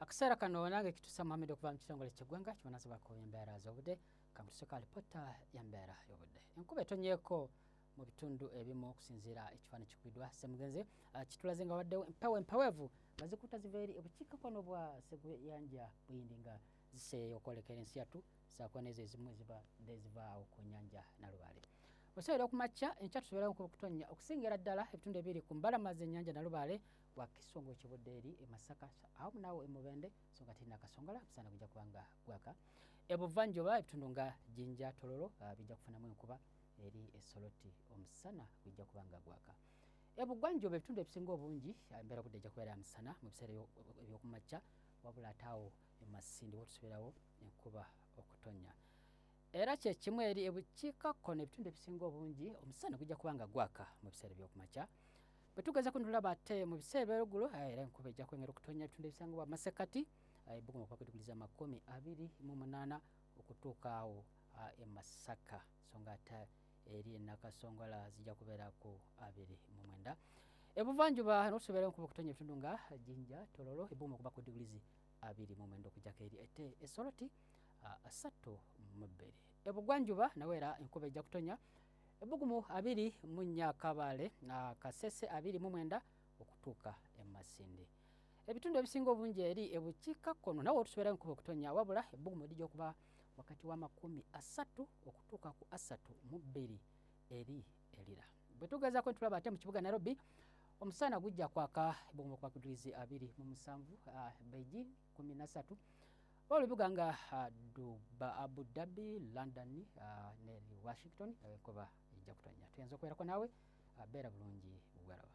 akaseera kano nange kitusa muhammed okuva mu kitongole ky'eggwanga kibonazibwako embeera z'obudde kamutusoka alipotta y'embeera y'obudde enkuba etonyeeko mu bitundu ebimu okusinziira ekifaani kikubidwa semugenzi ah, kitulaze nga waddewo empewo empeweevu nga zikuta ziva eri obukiikakkono bwa seguyanja buyindi nga ziseeyo okwolekera ensi yattu saako neezo ezimu eziba dezivaawo ku nyanja nalubaale osobera okumakya enkya tusoberamu kutonnya okusingira ddala ebitundu ebiri ku mbalama z'ennyanja nalubaale Wakiso ngo kibudde eri e Masaka awamu naawo e Mubende so nga tirina kasongala musana gujja kuba nga gwaka ebuvanjuba ebitundu nga Jinja Tololo uh, bijja kufunamu enkuba eri esoloti omusana gujja kuba nga gwaka ebugwanjuba ebitundu ebisinga obungi uh, embeera budde ejja kubeera musana mu biseera ebyokumakya wabula ate awo emasindi wotusubirawo enkuba okutonya era kyekimu eri ebukiikakkono ebitundu ebisinga obungi omusana gujja kuba nga gwaka mu biseera ebyokumakya bwe tugeza ku nolaba ate mu biseera ebyolugulu eh, era enkuba ejja kwengera okutonya ebitundu ebisangibwa amasekati eh, ebugumu okuba kwediguliza amakumi abiri mu munaana okutuuka awo ah, e masaka so nga ate eri enakasongola zijja kubeera ku abiri mu mwenda ebuvanjuba notusobeera enkuba okutonya ebitundu nga jinja tololo ebugumu okuba ku digulizi abiri mu mwenda okujjako eri ete esoloti ah, asatu mu bbiri ebugwanjuba nawe era enkuba ejja kutonya ebbugumu abiri mu nnya kabaale kasese abiri mu mwenda okutuuka emasindi ebitundu ebisinga obungi eri ebukiika kkono nawe otusobera enkuba okutonya wabula ebbugumu lijja okuba wakati w'amakumi asatu okutuuka ku asatu mu bbiri eri erira bwe tugezaako ntulaba ate mu kibuga nairobi omusana gujja kwaka ebbugumu okuba ku digirizi abiri mu musanvu ah, beijing kumi nasatu oba lubiga nga ah, duba abu dhabi london ah, ne washington enkuba ejja kutonya tuyinza okubeerako naawe ah, beera bulungi bwalaba